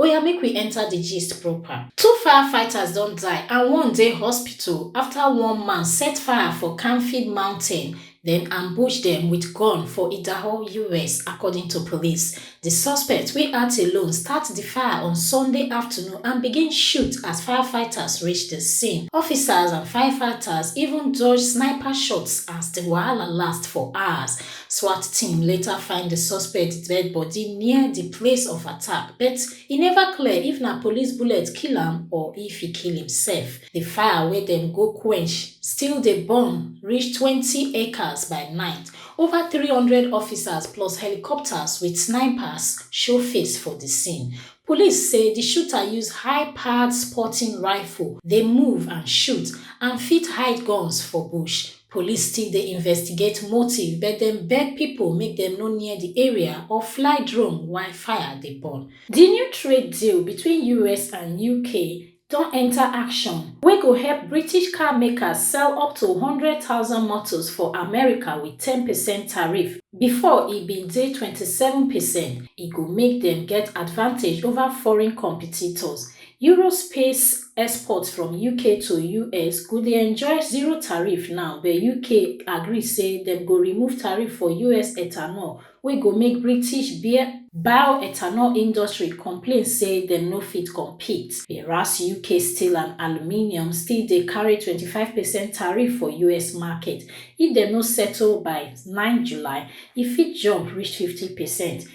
Oya make we enter the gist proper. Two firefighters don die and one dey hospital after one man set fire for Canfield Mountain, then ambush dem with gun for Idaho, US, according to police. The suspect, wey act alone, start the fire on Sunday afternoon and begin shoot as firefighters reach the scene. Officers and firefighters even dodge sniper shots as the wahala last for hours. Swat team later find di suspect dead bodi near di place of attack but e neva clear if na police bullet kill am or if e kill imsef. Di fire wey dem go quench still dey burn reach twenty acres by night, ova three hundred officers plus helicopters wit snipers show face for di scene. Police say di shooter use high-powered sporting rifle dey move and shoot and fit hide guns for bush. Police still dey investigate motive but dem beg pipo make dem no near di area or fly drone while fire dey burn. Di new trade deal between us and UK don enta action, wey go help British car makers sell up to one hundred thousand motos for America wit ten percent tariff, bifor e bin dey twenty seven percent, e go make dem get advantage ova foreign competitors. Eurospace. exports from uk to us go dey enjoy zero tariff now but uk agree say dem go remove tariff for us ethanol wey go make british bioethanol industry complain say dem no fit compete whereas uk steel and aluminium still dey carry 25 percent tariff for us market if dem no settle by 9 july e fit jump reach 50 percent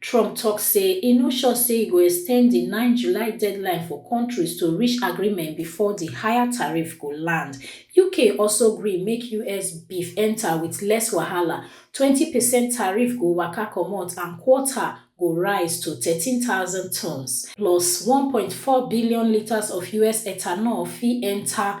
Trump tok say e no sure say e go extend di nine July deadline for kontris to reach agreement bifor di higher tariff go land. UK also gree make us beef enta wit less wahala, twenty percent tariff go waka comot and quota go rise to thirteen thousand tonnes, plus one point four billion litres of us ethanol fit enta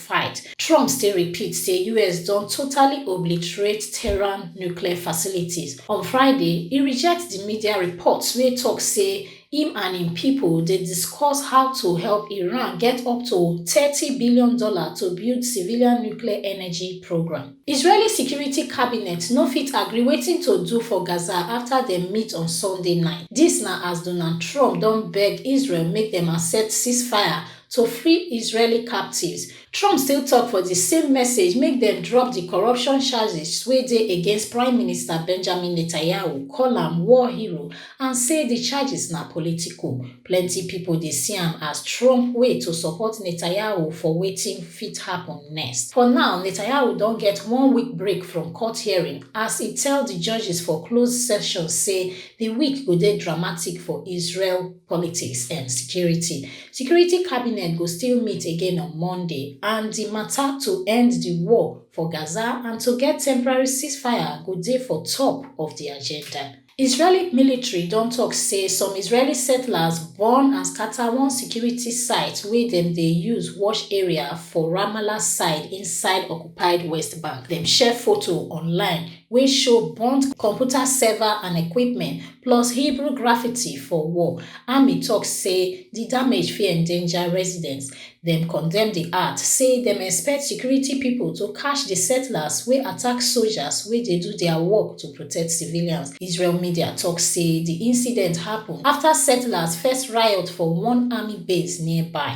fight. Trump still repeat say us don totally obliterate Tehran nuclear facilities. On Friday, e reject di media reports wey tok say im and im pipo dey discuss how to help Iran get up to thirty billion dollars to build civilian nuclear energy programme. Israeli security cabinet no fit agree wetin to do for Gaza afta dem meet on Sunday night. Dis na as Donald Trump don beg Israel make dem accept ceasefire to free israeli captives trump still tok for di same message make dem drop di corruption charges wey dey against prime minister benjamin netanyahu call am war hero and say di charges na political plenty pipo dey see am as trump way to support netanyahu for wetin fit happun next for now netanyahu don get one week break from court hearing as e tell di judges for closed session say di week go dey dramatic for israel politics and security Security cabinet go still meet again on Monday and di mata to end di war for Gaza and to get temporary ceasefire go dey for top of di agenda. Israeli military don tok say some Israeli settlers burn and scata one security site wey dem dey use watch area for Ramallah side inside occupied West Bank. Dem share foto online wey show burnt computer server and equipment plus hebrew graffiti for wall army tok say di damage fit endanger residents dem condemn di act say dem expect security pipo to catch di settlers wey attack sojas wey dey do dia work to protect civilians israel media tok say di incident happun afta settlers first riot for one army base nearby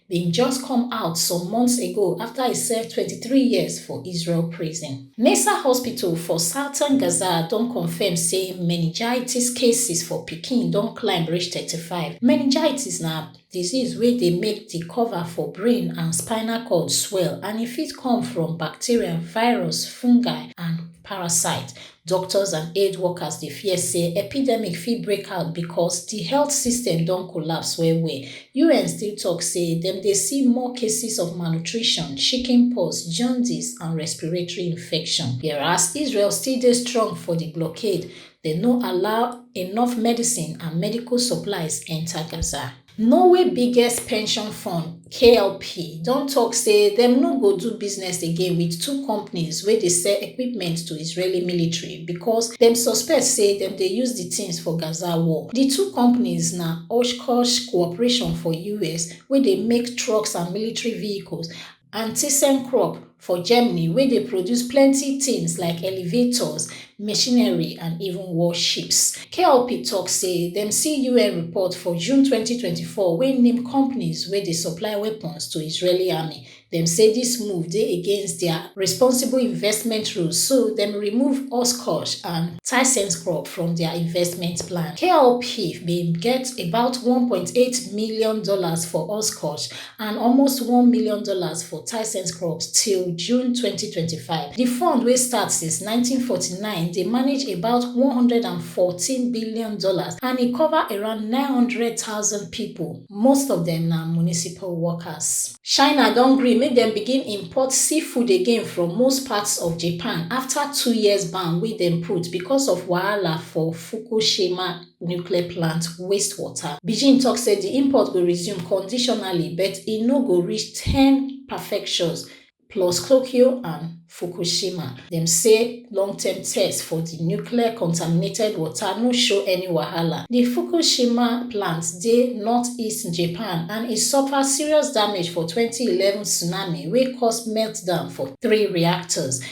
bin just come out some months ago after e serve 23 years for Israel prison. Nasser Hospital for southern Gaza don confirm say meningitis cases for pikin don climb reach 35. Meningitis na disease wey dey make di cover for brain and spinal cord swell and e fit come from bacteria, virus, fungi and parasite. Doctors and aid workers dey fear say epidemic fit break out because di health system don collapse well well. UN still tok say dem dey see more cases of malnutrition, chickenpox, jaundice and respiratory infection. Whereas Israel still dey strong for di blockade, dem no allow enough medicine and medical supplies enta Gaza. Norway biggest pension fund, KLP, don tok say dem no go do business again wit two companies wey dey sell equipment to Israeli military because dem suspect say dem dey use di tins for Gaza war. Di two companies na Oshkosh Corporation for US, wey dey make trucks and military vehicles, and thyssenkrupp for germany wey dey produce plenty tins like elevators machinery and even warships kpop tok say dem see un report for june 2024 wey name companies wey dey supply weapons to israeli army dem say dis move dey against dia responsible investment rules so dem remove oshkosh and thyssenkrupp from dia investment plan kpop bin get about 1.8 million dollars for oshkosh and almost one million dollars for ThyssenKrupp till June 2025. Di fund wey start since 1949 dey manage about one hundred and fourteen billion dollars and e cover around nine hundred thousand pipo, most of dem na municipal workers. China don gree make dem begin import seafood again from most parts of Japan afta two years ban wey dem put because of wahala for Fukushima. nuclear plant waste water. Beijing tok say di import go resume conditionally but e no go reach ten perfections plus Tokyo and Fukushima. Dem say long-term tests for di nuclear contaminated water no show any wahala. Di Fukushima plant dey northeast Japan and e suffer serious damage for twenty eleven tsunami wey cause meltdown for three reactors.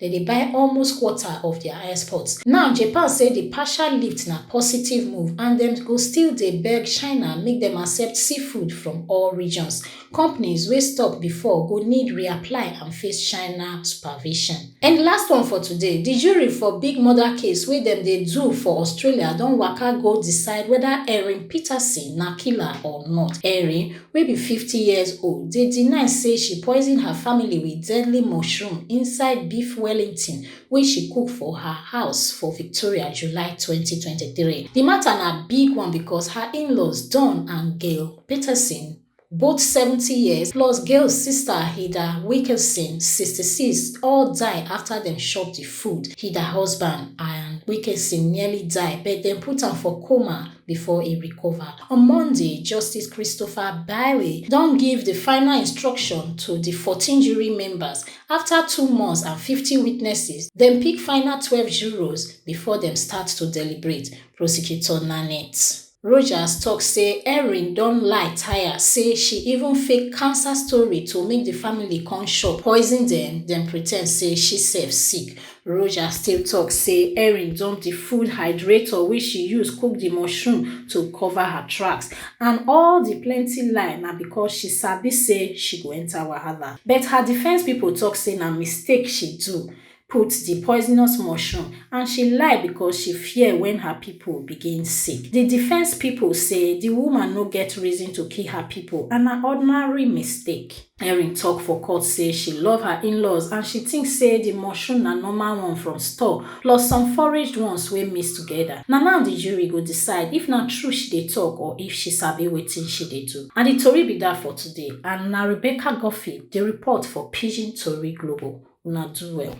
dem dey buy almost quarter of dia exports. Now Japan say di partial lift na positive move and dem go still dey beg China make dem accept seafood from all regions. Companies wey stop before go need reapply and face China supervision. And di last one for today, di jury for big murder case wey dem dey do for Australia don waka go decide weda Erin Peterson na killer or not. Erin, wey be fifty years old dey deny say she poison her family with deadly mushroom inside beef wellington wey she cook for her house for victoria july 2023 di matter na big one because her in-laws don and gail peterson both 70 years plus gail sister hilda wilkinson 66 all die after dem chop di food hilda husband and wilkinson nearly die but dem put am for coma before e recover. On Monday, Justice Christopher Bailey don give di final instruction to di 14 jury members afta two months and 50 witnesses. Dem pick final 12 jurors before dem start to deliberate, Prosecutor Nanette. Rogers tok say Erin don lie tire say she even fake cancer story to make di family come shock, poison dem, den pretend say she sef sick. Roja still tok say Erin dump di food hydrator wey she use cook di mushroom to cover her tracks and all di plenty lie na because she sabi say she go enter wahala. But her defence pipo tok say na mistake she do put di poisonous mushroom and she lie because she fear wen her pipo begin sick. Di defence pipo say di woman no get reason to kill her pipo and na ordinary mistake. Erin tok for court say she love her in-laws and she tink say di mushroom na normal one from store plus some foraged ones wey mix togeda. Na now di jury go decide if na true she dey tok or if she sabi wetin she dey do. Na di tori be dat for today and na Rebecca Guffey dey report for Pidgin Tori Global. Una do well.